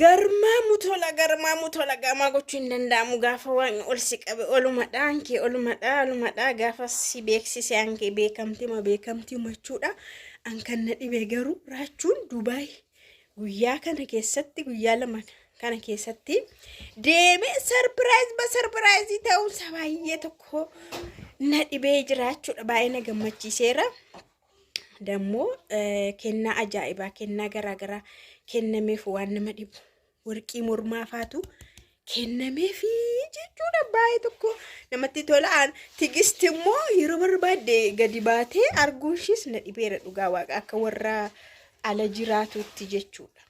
Garmaamu tola garmaamu tola gaamaa gochuu hin danda'amu gaafa waaqni ol si qabe olumadha ankee olumadha olumadha gaafa si beeksise ankee beekamtima beekamtima jechuudha an kan na dhibe garuu raachuun dubaay guyyaa kana keessatti guyyaa lama kana keessatti deemee sarpiraayiz ba sarpiraayizii ta'uunsa baay'ee tokko na dhibee jiraachuudha baay'ee na gammachiiseera. Dammoo kennaa ajaa'ibaa kennaa garaagaraa kennameef waan nama dhibu warqii mormaa faatu kennameefi jechuudha baay'ee tokko namatti tolaan tigisti immoo yeroo barbaadde gadi baatee arguun ishiis na dhibeera dhugaa waaqa akka warra ala jiraatutti jechuudha.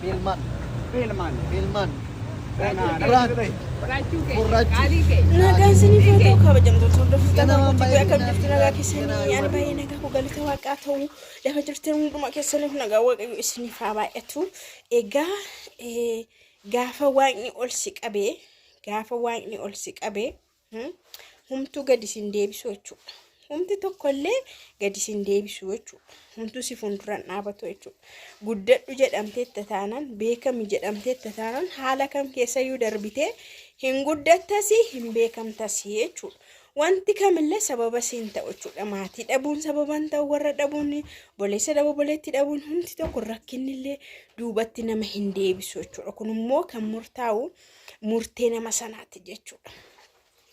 Filman. Filman. Filman. Nagaan isiniif haa ta'u kabajamtoota hordoftoota naannoo Tibbee akka jirtu nagaa keessanii ani baay'ee nagaa koo galata waaqaa ta'u lafa jirtan hundumaa keessaniif nagaa waaqayyo isiniif haa baay'atu. Egaa Gaafa Waaqni ol si qabe, gaafa Waaqni ol si qabe, hmm, humtuu gadi sin deebisu jechuudha. Humti tokkollee gadi sin deebisu jechuudha. Humtuu si fuulduran dhaabatu jechuudha. Guddadhu jedhamteetta taanaan, beekami jedhamteetta taanaan haala kam keessayyuu darbitee hin guddattasi, hin beekamtasi jechuudha. Wanti kamillee sababa si hin ta'u jechuudha. Maatii dhabuun sababa hin ta'u, warra dhabuun, boleessa dhabuu, boleetti dhabuun hundi tokko rakkinnillee duubatti nama hin deebisu jechuudha. Kun immoo kan murtaa'u murtee nama sanaati jechuudha.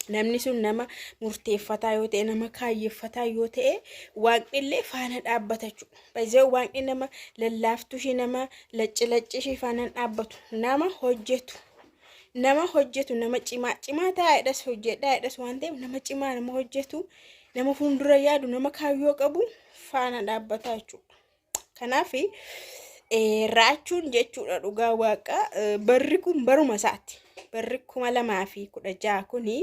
Namni sun nama murteeffataa yoo ta'e, nama kaayyeffataa yoo ta'e, waaqnillee faana dhaabbata jechuudha. Baay'ee waaqni nama lallaaftuu ishee nama lacci lacci ishee faana hin dhaabbatu. Nama hojjetu. nama hojjetu nama cimaa cimaa taa'edhas hojjedhaadhas waan ta'eef nama cimaa nama hojjetu nama fuuldura yaadu nama kaayyoo qabu faana dhaabbataa jechuudha. Kanaaf raachuun jechuudha dhugaa waaqa barri kun baruma isaati barri kuma lamaa fi kudha ja'a kuni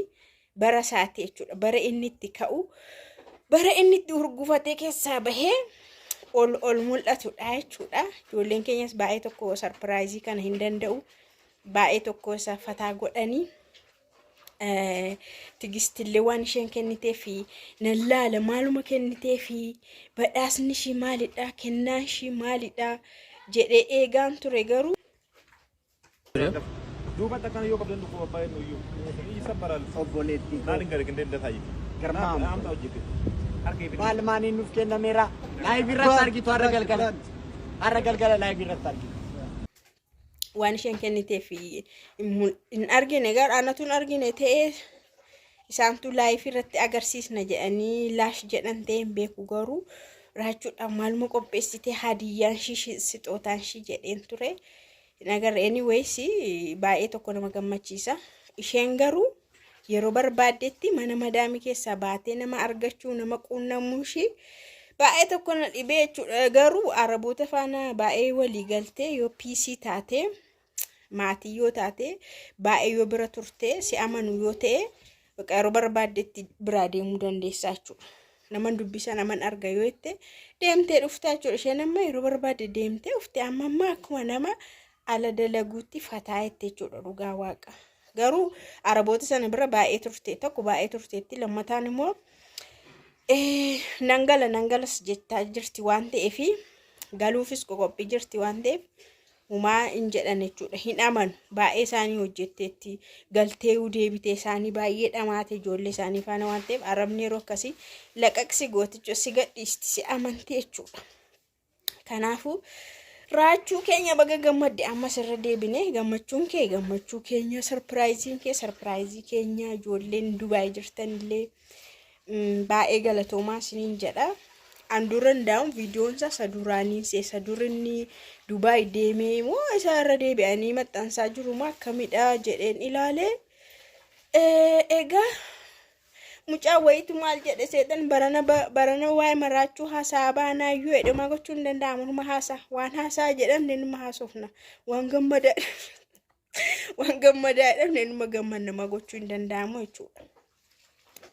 bara isaati jechuudha bara inni itti ka'u bara inni itti hurgufatee keessaa bahee. ol ol mul'atudha jechuudha. Ijoolleen keenyas baay'ee tokko sarpiraayizii kana hin danda'u. baay'ee tokko isa fataa godhanii tigistillee waan isheen kennitee fi nan laala maaluma kennitee fi badhaasni ishii maalidha kennaan ishii maalidha jedhee eegaan ture garuu. duubatti akkana yoo qabdan dhufu abbaa inni iyyuu isa baraal obboleetti maal hin gare gindee dataa itti garmaa amta hojjete harka itti maal maaniin nuuf kennameera laayif irratti argitu har'a galgala har'a galgala laayif irratti argitu waan isheen kenniteef hin argine gara anatu hin argine ta'ee isaantu laayifii irratti agarsiisna jedhanii laash jedhan ta'ee hin beeku garuu raachuudhaan maaluma qopheessitee hadiyyaan ishii sixootaan ishii jedheen ture hin agarre anyways baay'ee tokko nama gammachiisa isheen garuu Yeroo barbaaddetti mana madaamii keessaa baatee nama argachuu nama quunnamuu ishii baay'ee tokko na dhibee jechuudha. Garuu araboota faana baay'ee walii galtee yoo piisii taate maatii yoo taate baay'ee yoo bira turte si amanu yoo ta'e bakka yeroo barbaaddetti biraa deemuu dandeessaa jechuudha. Naman dubbisa naman arga yoo jette deemtee dhuftaa jechuudha. Isheen amma yeroo barbaadde deemtee dhufte amma amma akkuma nama ala dalaguutti fataa jette jechuudha dhugaa waaqa. Garuu arabooti sana bira baay'ee turte tokko baay'ee turteetti lammataan immoo eh, nan gala nan galas jechaa jirti waan ta'eef galuufis qoqophii jirti waan ta'eef humaa hin jedhan jechuudha hin amanu baay'ee isaanii hojjetteetti galteeyuu deebitee isaanii baay'ee dhamaate ijoollee isaanii faana waan ta'eef arabni yeroo akkasii laqaqsi gooticha si gadhiisti si amanti jechuudha. Kanaafuu raachuu keenya baga gammadde ammas irra deebine gammachuun kee gammachuu keenya sarpiraayiziin kee sarpiraayizii keenya ijoolleen Dubaay jirtan illee mm, baay'ee galatoomaa isiniin jedha. An dura hundaa'uun viidiyoon isaa isa duraanii isa isa dur inni Dubaay deemee moo isa irra deebi'anii maxxansaa jiru moo akkamidha jedheen ilaalee Eh, egaa Mucaa wayitu maal jedhe seexan barana ba- barana waa'ee maraachuu haasaa baanaa yoo jedhe homaa gochuun hin danda'amu numa haasa waan haasaa jedhamne numa haasofna waan gammadaa waan gammadaa jedhamne numa gammanna homaa gochuu hin danda'amu jechuudha.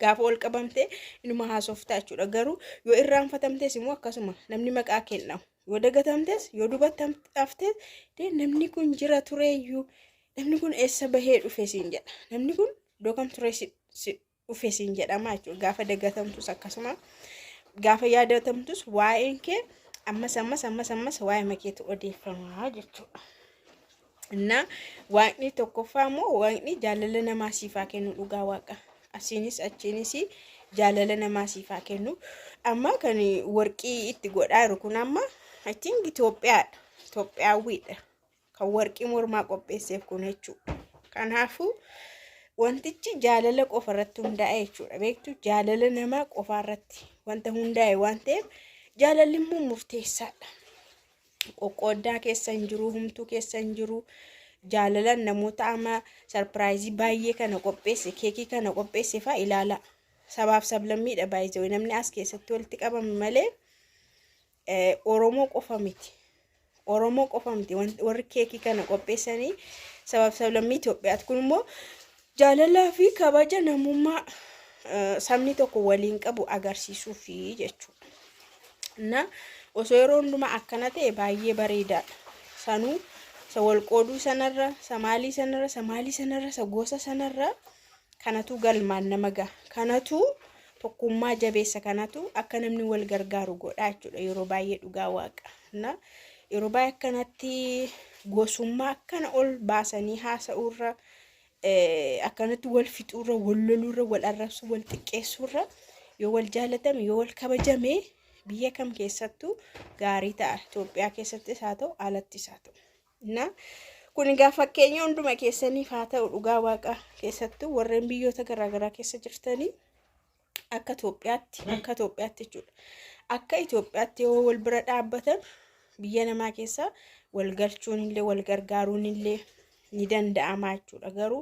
Gaafa ol qabamtee inuma haasoftaa jechuudha garuu yoo irraanfatamtes immoo akkasuma namni maqaa kenna yoo dagatamtes yoo dubatamtaftes dee namni kun jira tureeyyuu namni kun eessa bahee dhufe siin jedha namni kun iddoo kan turee si si dhufe siin jedhama jechuudha gaafa dagatamtus akkasuma gaafa yaadatamtus waa'een kee ammas ammas ammas ammas waa'ee makeetu odeeffama jechuudha. Innaa waaqni tokkoffaa immoo waaqni jaalala namaa siif haa kennu dhugaa waaqa asiinis achiinis jaalala namaa siif haa kennu amma kan warqii itti godhaa jiru kun amma I think Itoophiyaadha Itoophiyaawwiidha. kan warqii mormaa qopheesseef kun jechuudha. Kanaafuu wantichi jaalala qofa irratti hundaa'e jechuudha. Beektu jaalala namaa qofa irratti wanta hundaa'e waan ta'eef jaalalli immoo murteessaadha. Qoqqooddaa keessa hin jiru, humtuu keessa hin jiru. Jaalalaan namoota amma sarpiraayizii baay'ee kana qopheesse, keekii kana qopheesse fa'aa ilaala. Sabaaf sablammiidha baay'isee namni as keessatti walitti qabame malee. Oromoo qofa miti. Oromoo qofa miti warri keekii kana qopheessanii sabaaf sablammii Itoophiyaati. Kun immoo jaalalaa fi kabaja namummaa sabni tokko waliin qabu agarsiisuufi jechuudha. Na osoo yeroo hundumaa akkana ta'e baay'ee bareedaadha. Sanuu isa wal qooduu sanarra, isa maalii sanarra, isa maalii sanarra, isa gosa sanarra Kanatu galmaan nama gaha. Kanatu tokkummaa jabeessa kanatu akka namni wal gargaaru godha jechuudha yeroo baay'ee dhugaa waaqa. Na yeroo baay'ee akkanatti gosummaa akkana ol baasanii haasa'uurra eh, akkanatti wal fixuurra wal loluurra wal arrabsu wal xiqqeessuurra yoo wal jaalatame yoo wal kabajame biyya kam keessattuu gaarii ta'a. Itoophiyaa keessattis haa ta'u alattis haa ta'u. Na, kun egaa fakkeenya hunduma keessaniif haa ta'u dhugaa waaqa keessattuu warreen biyyoota garaagaraa keessa jirtanii akka Itoophiyaatti akka Itoophiyaatti jechuudha akka Itoophiyaatti yoo wal bira dhaabbatan biyya namaa keessa wal galchuun illee wal gargaaruun illee ni danda'ama jechuudha garuu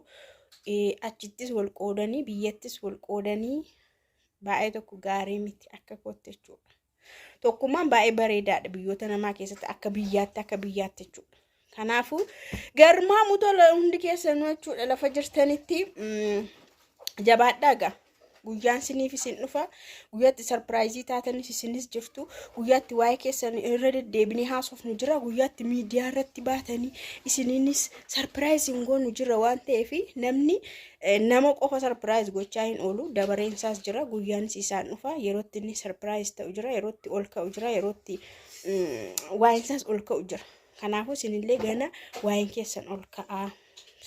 eh, achittis wal qoodanii biyyattis wal qoodanii baay'ee tokko gaarii miti akka kootti jechuudha. Tokkummaan baay'ee bareedaadha biyyoota namaa keessatti akka biyyaatti akka biyyaatti jechuudha. Kanaafuu garmaamu tola hundi keessanuu jechuudha lafa jirtanitti mm, jabaadhaa gaa. Guyyaan siniif isin dhufa. Guyyaatti sarpiraayizii taatanis isinis jirtu. Guyyaatti waa'ee keessan irra deddeebinee haasofnu jira. Guyyaatti miidiyaa irratti baatanii isiniinis sarpiraayiziin goonu jira waan ta'eef namni Nama qofa sarpiraayiz gochaa hin oolu. Dabareen isaas jira. Guyyaanis isaan dhufa. Yerootti inni sarpiraayiz ta'u jira. Yerootti ol ka'u jira. Yerootti waa'een isaas ol ka'u jira. Kanaafuu isinillee gana waa'een keessan ol ka'aa.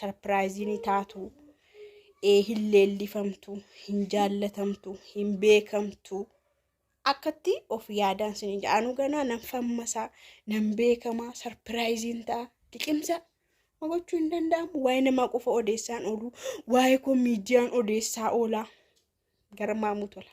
Sarpiraayiziin taatu. Hin leellifamtu. Hin jaallatamtu. Hin beekamtu. akkatti of yaadaan sin hin jedhaanu ganaa nan fammasaa nan beekamaa sarpiraayiziin ta'a liqimsa gochuu hin danda'amu waa'ee namaa qofa odeessaan oolu waa'ee koo miidiyaan odeessaa oola garmaamuu tola.